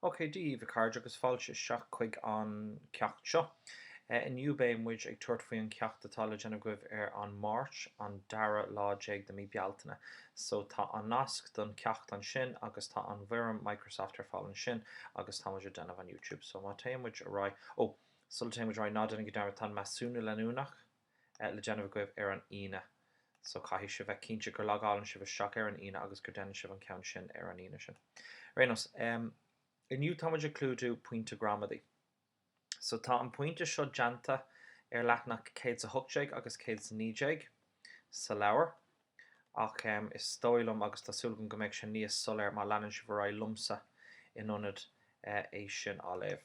Ok, DB, a chairde agus fáilte isteach chuig an ceacht seo. Inniu beidh muid ag tabhairt faoi an ceacht atá le déanamh agaibh ar an Máirt an dara lá déag de mí Bealtaine. So tá an nasc don ceacht ansin agus tá an bhfoirm Microsoft ar fáil ansin agus tá muid ag déanamh an Youtube. So má téann muid ar aghaidh. Oh! Sula dtéann muid ar aghaidh ná déanaigí dearmad tá an measúnú leanúnach ar le déanamh agaibh ar an Aoine so caithfidh sibh bheith cinnte gur logálann sibh isteach ar an Aoine agus gur déanann sibh an ceann sin ar an Aoine sin. Ar aon nós, inniu táimid ag clúdú pointe gramadaí. So tá an pointe seo déanta ar leathnach céad 's a hocht déag agus céad 's a naoi déag sa leabhar ach is dóigh liom agus tá súil agam go mbeidh sé níos soiléir má leanann sibh ar aghaidh liomsa in ionad é sin a léamh.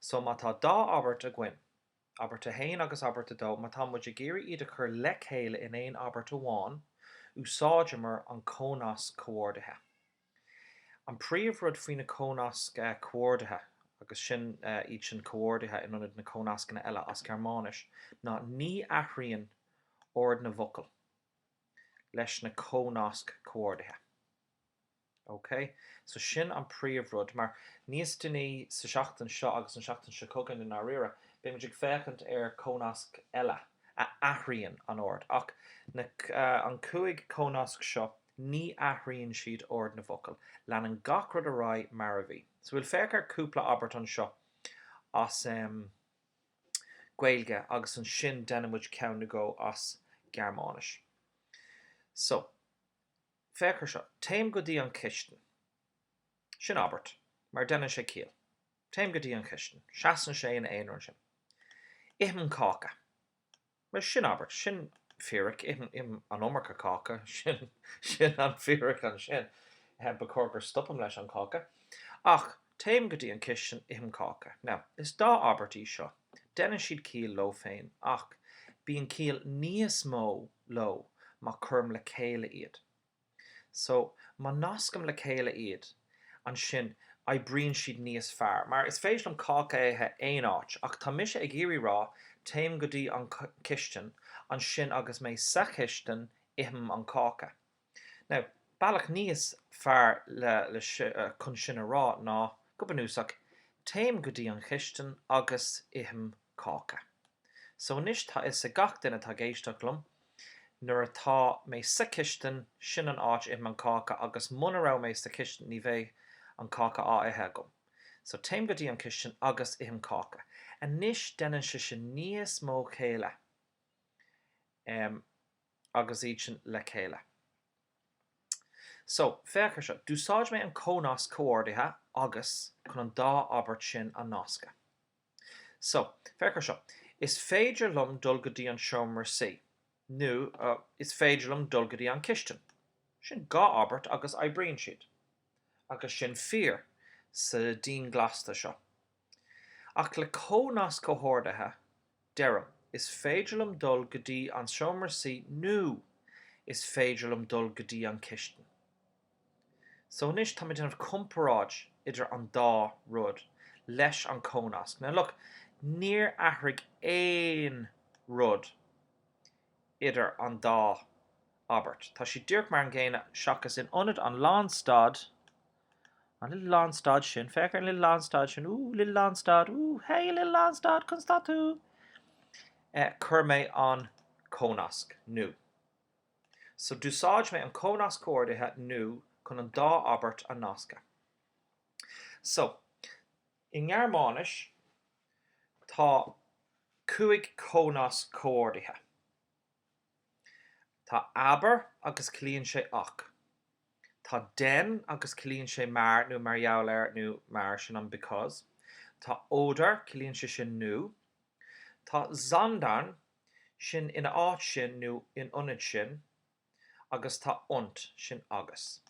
So má tá dá abairt againn, abairt a haon agus abairt a dó, má tá muid ag iarraidh iad a chur le chéile in aon abairt amháin, úsáideamar an cónasc comhordaithe. An príomhrud faoi na cónasc comhordaithe, agus sin iad sin comhordaithe in ionad na cónascanna eile as Gearmáinis, ná ní athraíonn ord na bhfocal leis na cónasc comhordaithe. OK, so sin an príomh rud, mar níos déanaí sa seachtain seo agus an seachtain seo chugainn i ndáiríre, beidh muid ag féachaint ar cónasc eile a athraíonn an ord, ach na, an cúig cónasc seo, ní athraíonn siad ord na bhfocal, leanann gach rud ar aghaidh mar a bhí. So bhuel féach ar cúpla abairt anseo as ehm Gaeilge agus ansin déanfaidh muid ceann nó dhó as Gearmáinis. So. féach ar seo, téim go dtí an chistin. Sin abairt, mar deineann sé ciall. Téim go dtí an chistin. Seasann sé in a aonar ansin. Ithim cáca. Bhuel, sin abairt. Sin fíric. Ithim an iomarca cáca. Sin an fíric ansin. Ba chóir gur stopaim leis an cháca. Ach. Téim go dtí an cistin, ithim cáca. Now, is dá abairt í seo. Déanann siad ciall leo féin, ach bíonn ciall níos mó leo má cuirim le chéile iad. So, má nascaim le chéile iad, ansin oibríonn siad níos fearr. Mar, is féidir liom cáca a ithe aon áit, ach tá mise ag iarraidh rá, téim go dtí an cistin, ansin agus mé sa chistin, ithim an cáca. Now, bealach níos fearr chun sin a rá ná, go bunúsach, téim go dtí an chistin agus ithim cáca. So anois tá fhios ag gach duine atá ag éisteacht liom, nuair atá mé sa chistin, sin an áit a ithim an cáca agus muna raibh mé sa chistin ní bheadh an cáca á ithe agam. So téim go dtí an chistin agus ithim cáca. Anois déanann sé sin níos mó céille. Em. agus iad sin le chéile. So, féach ar seo. D'úsáid mé an cónasc comhordaithe agus chun an dá abairt sin a nascadh. So, féach ar seo. Is féidir liom dul go dtí an seomra suí. Nó, Is féidir liom dul go dtí an chistin. Sin dhá abairt agus oibríonn siad. agus sin fíor sa dianscaoilte seo. Ach le cónasc comhordaithe, deirim, is féidir liom dul go dtí an seomra suí nó is féidir liom dul go dtí an chistin. So anois táim ag déanamh comparáid idir an dá rud leis an cónasc. Now look, níor athraigh aon rud idir an dá. abairt. Tá siad díreach mar an gcéanna seachas in ionad an lánstad, an little lánstad sin, féach ar an little lánstad sin, ooh, little lánstad, ooh, hey, a little lánstad, conas tá tú? eh, cuir mé an cónasc, nó. So d'úsáid mé an cónasc comhordaithe nó chun an dá abairt a nascadh. So, i nGearmáinis tá cúig chónasc comhordaithe. Tá aber agus ciallaíonn sé ach. Tá den agus ciallaíonn sé mar nó mar gheall ar nó mar sin an because. Tá oder ciallaíonn sé sin nó. Tá sondern sin ina áit sin nó in ionad sin agus tá und sin agus.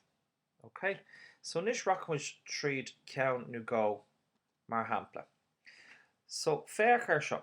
Ok? So anois rachaidh muid tríd ceann nó dhó mar shampla. So féach ar seo.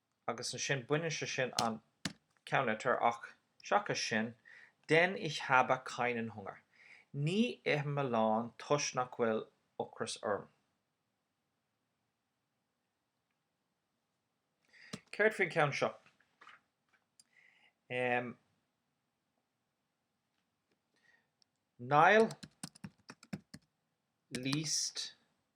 agus ansin baineann sé sin an ceannlitir ach seachas sin denn ich habe keinen Hunger, ní ithim a lán toisc nach bhfuil ocras orm. Céard faoin cheann seo? Em. Niall liest.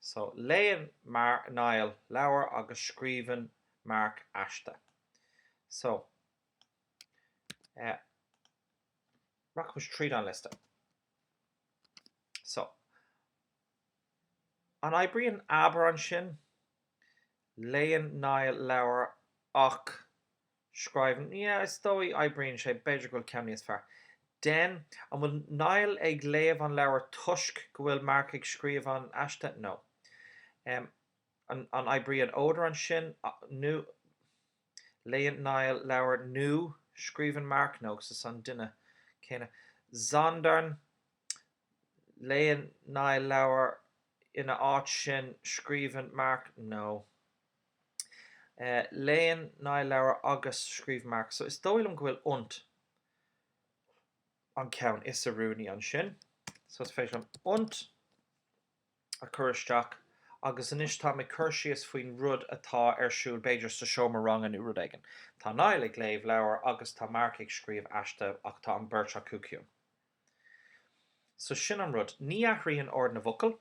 So, léann Niall leabhar agus scríobhann Mark aiste. So, eh, rachaimid tríd an liosta. So, an oibríonn aber ansin? Léann Niall leabhar ach Scríobhann, Yeah, is dóigh oibríonn sé, b'fhéidir go bhfuil ceann níos fearr. Denn, An bhfuil Niall ag léamh an leabhair toisc go bhfuil Mark ag scríobh an aiste nó? Em, an, an oibríonn oder ansin nó, léann Niall leabhar nó scríobhann Mark nó sa, san duine céanna. Sondern, Léann Niall leabhar, ina áit sin scríobhann Mark nó? Léann Niall leabhair agus scríobh Mark so is dóigh liom go bhfuil und an ceann is oiriúnaí ansin. So is féidir liom und a chur isteach agus anois táim ag cur síos faoin rud atá ar siúl b'fhéidir sa seomra ranga nó rud éigin. Tá Niall ag léamh leabhair agus tá Mark ag scríobh aiste ach tá an beirt acu ciúin. So sin an rud. Ní athraíonn ord na bhfocal.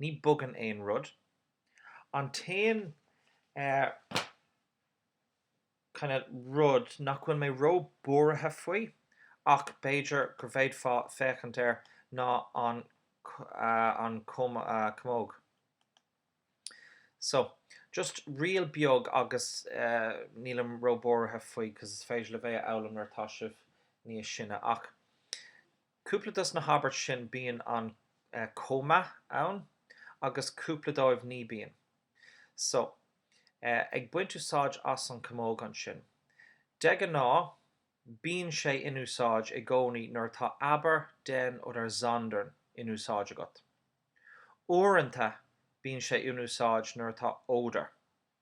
Ní bogann aon rud. An t-aon rud nach bhfuil mé ró buartha faoi, ach b'fhéidir go bhféadfá féachaint air, ná an chamóg. So, just riail beag agus nílim ró buartha faoi cos is féidir libh é a fhoghlaim nuair atá sibh níos sine ach Cúpla dos na habairt sin bíonn an cóma ann agus cúpla dóibh ní bíonn. So, ag baint úsáid as an camóg ansin. De ghnáth bíonn sé in úsáid i gcónaí nuair atá aber denn oder sondern in úsáid agat. Uaireanta bíonn sé in úsáid nuair atá oder.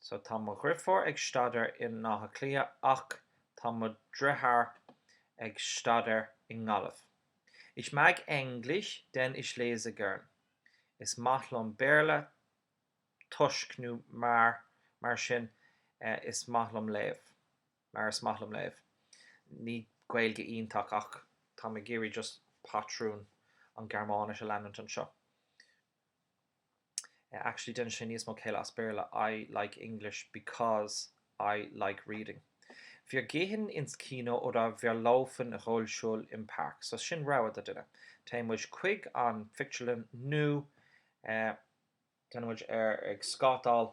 So tá mo dhrifiúr ag staidéar i n-Átha Cliath ach tá mo dritheáir ag staidéar i nGaillimh. Ich mag Englisch denn ich lese gern. Is maith liom Béarla toisc nó mar, mar sin, is maith liom léamh, mar is maith liom léamh. Ní Gaeilge iontach ach táim ag iarraidh just patrún an Gearmáinis a leanúint anseo. Eh actually déanann sé níos mó céille as Béarla, I like English because I like reading. Wir gehen ins Kino oder wir laufen Rollschuh im Park so sin rogha do duine. Téann muid chuig an phictiúrlann nó eh téann muid ar ag scátáil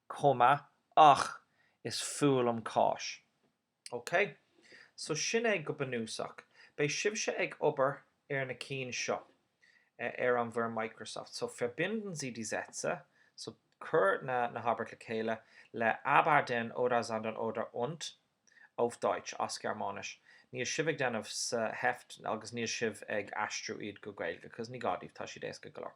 chomh maith ach is fuath liom cáis. Ok so sin é go bunúsach. Beidh sibhse ag obair ar na cinn seo ar an bhfoirm Microsoft. So verbinden Sie die Sätze, so cuir na na habairt le chéile le aber denn oder sondern oder und auf Deutsch as Gearmáinis. Níl sibh ag déanamh sa Heft agus níl sibh ag aistriú iad go Gaeilge cause ní gá daoibh tá siad éasca go leor.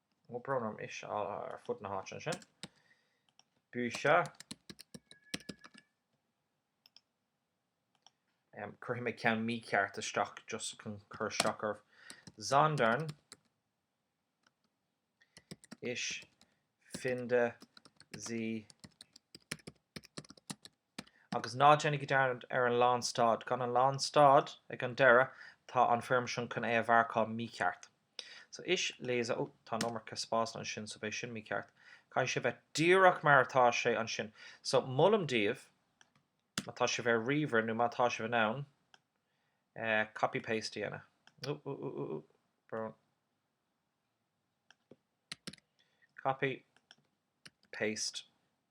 Ó brón orm tá sé ar fud na háite ansin. But em, cuirfidh mé ceann mícheart isteach just chun cur isteach oraibh. Sondern ich finde sie Agus ná déanaigí dearmad ar an lánstad. Gan an lánstad, ag an deireadh, tá an foirm sin chun é a mharcáil mícheart. So, ich lese, oh, tá an iomarca spásanna ansin, so beidh sin mícheart. Caithfidh sé bheith díreach mar atá sé ansin. So, molaim daoibh, má tá sibh ar ríomhaire nó má tá sibh in ann, eh, copy paste a dhéanamh. Ooh, ooh, ooh, ooh, ooh, Copy. Paste.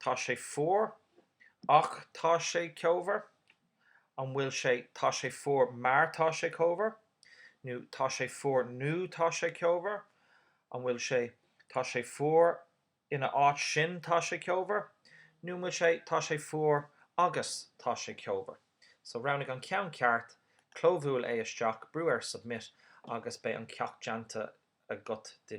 Tá sé fuar. Ach tá sé ceomhar. An bhfuil sé tá sé fuar mar tá sé ceomhar? Nó tá sé fuar nó tá sé ceomhar? An bhfuil sé tá sé fuar in a áit sin tá sé ceomhar? Nó an bhfuil sé tá sé fuar agus tá sé ceomhar? So roghnaigh an ceann ceart, clóbhuail é isteach, brú ar submit agus beidh an ceacht déanta agat.